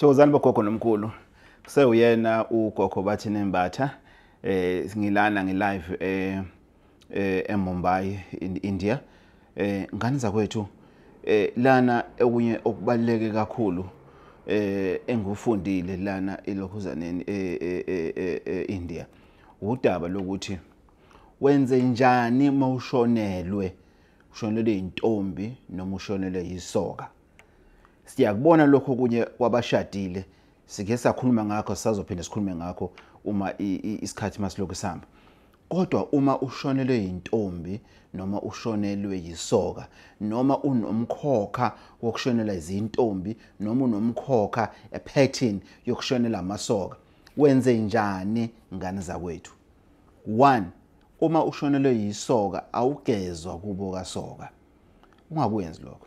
thokozani bogogo nomkhulu kusewuyena ugogo bathi nembatha eh ngilana ngilive eh, eh eMumbai in India eh ngani zakwethu eh lana okunye okubaleke kakhulu eh engufundile lana elokhuzaneni eh, eh, eh, eh India udaba lokuthi wenze njani mawushonelwe ushonelwe intombi noma ushonelwe yisoka siyakubona lokho kunye kwabashadile sike sakhuluma ngakho sisazophinde sikhulume ngakho uma isikhathi masilokhu sihamba kodwa uma ushonelwe yintombi noma ushonelwe yisoka noma unomkhokha wokushonela izintombi noma unomkhokha epattern yokushonela amasoka wenze njani ngane zakwethu 1 uma ushonelwe yisoka awugezwa kubo kasoka ungakwenzi lokho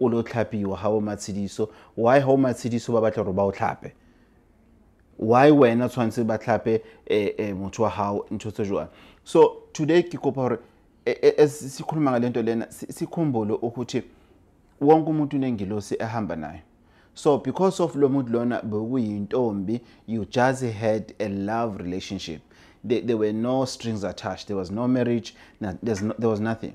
o le o tlhapiwa ga o matshediso why ga o matshediso ba batla gore ba o tlhape why wena tshwanetse ba tlhape eh, eh, motho wa gago ntho tse jwang so today ke kopa gore eh, sikhuluma ngale nto lena sikhumbule ukuthi wonke umuntu unengilosi ehamba nayo so because of lo muntu lona bekuyintombi you just had a love relationship there, there were no strings attached there was no marriage no, no, there was nothing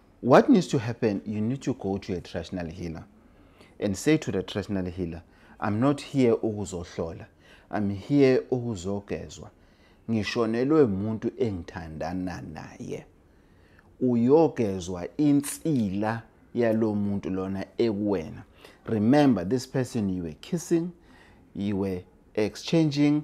What needs to happen, you need to go to a traditional healer and say to the traditional healer, I'm not here ukuzohlola. I'm here ukuzogezwa. Ngishonelwe umuntu engithandana naye. Uyogezwa insila yalo muntu lona ekuwena. Remember this person you were kissing, you were exchanging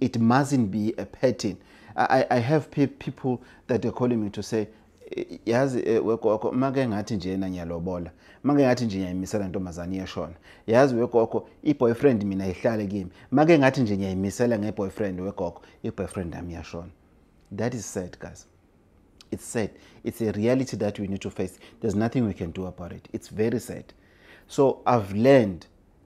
it mustn't be a pattern i, I have pe people that are calling me to say yazi eh, wegogo make ngathi njena ngiyalobola make ngathi nje ngiyayimisela ntombazane iyashona yazi wegogo i-boyfriend mina ihlale kimi make ngathi nje ngiyayimisela nge-boyfriend wegogo i-boyfriend yami iyashona that is sad guys it's sad it's a reality that we need to face there's nothing we can do about it it's very sad so i've learned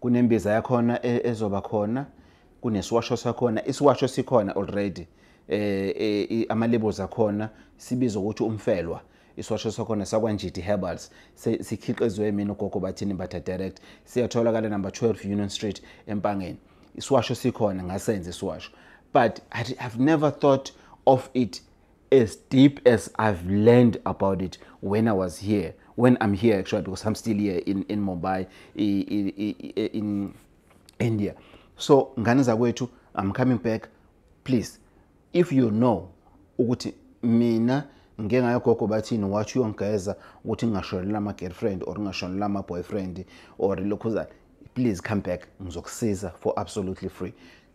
kunembiza yakhona e, ezoba khona kunesiwasho sakhona isiwasho sikhona already eh, eh amalebels akhona sibiza ukuthi umfelwa isiwasho sakhona sakwanjiti herbals sikhiqizwe mina ugogo bathini batha direct siyatholakala number 12 union street empangeni isiwasho sikhona ngasenze isiwasho but I, i've never thought of it as deep as I've learned about it when I was here, when I'm here actually, because I'm still here in, in Mumbai, in, in India. So, ngane zakwethu, I'm coming back. Please, if you know ukuthi mina ngike ngayogogo bathini wathi uyongigeza ukuthi ngingashonela ama-girlfriend or ngingashonela ama-boyfriend or lokhuzana please come back ngizokusiza for absolutely free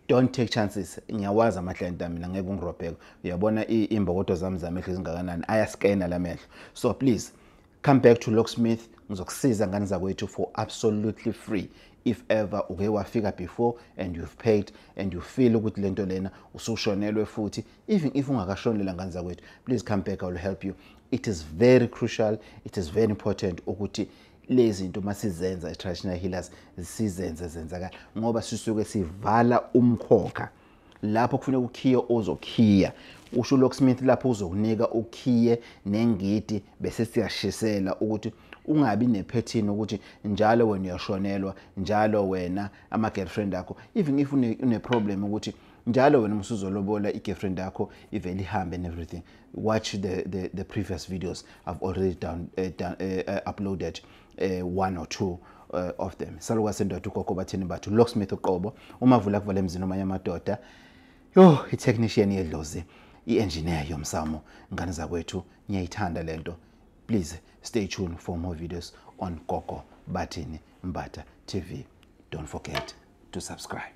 don't take chances ngiyawazi amahlayenti ami mina ngeke ungirobheke uyabona imbokodo zami zamehlo ezingakanani ayaskena la mehlo so please come back to locksmith ngizokusiza ngane zakwethu for absolutely free if ever uke wafika before and you've paid and you feel ukuthi lento lena usushonelwe futhi even if ungakashonela ngane zakwethu please come back i will help you it is very crucial it is very important ukuthi lezinto masizenza i-traditional healers sizenze zenzakala ngoba sisuke sivala umkhokha lapho kufuneka ukhiye ozokhiya usho ulocksmith lapho uzokunika ukhiye nengidi bese siyashisela ukuthi ungabi nephethini ukuthi njalo wena uyashonelwa njalo wena ama-girlfriend akho even if une-problem ukuthi njalo wena musuzolobola i-girlfriend yakho ivele ihambe and everything watch the, the, the previous videos i've already done, uh, done uh, uh, uploaded uh, one or two uh, of them saluka sendoda ugogo bathini bathu locksmith uqobo uma vula kuvala emzini omanye amadoda yo itechnician yedlozi i-engineer yomsamo ngane zakwethu ngiyayithanda le nto please stay tuned for more videos on gogo bathini mbata tv don't forget to subscribe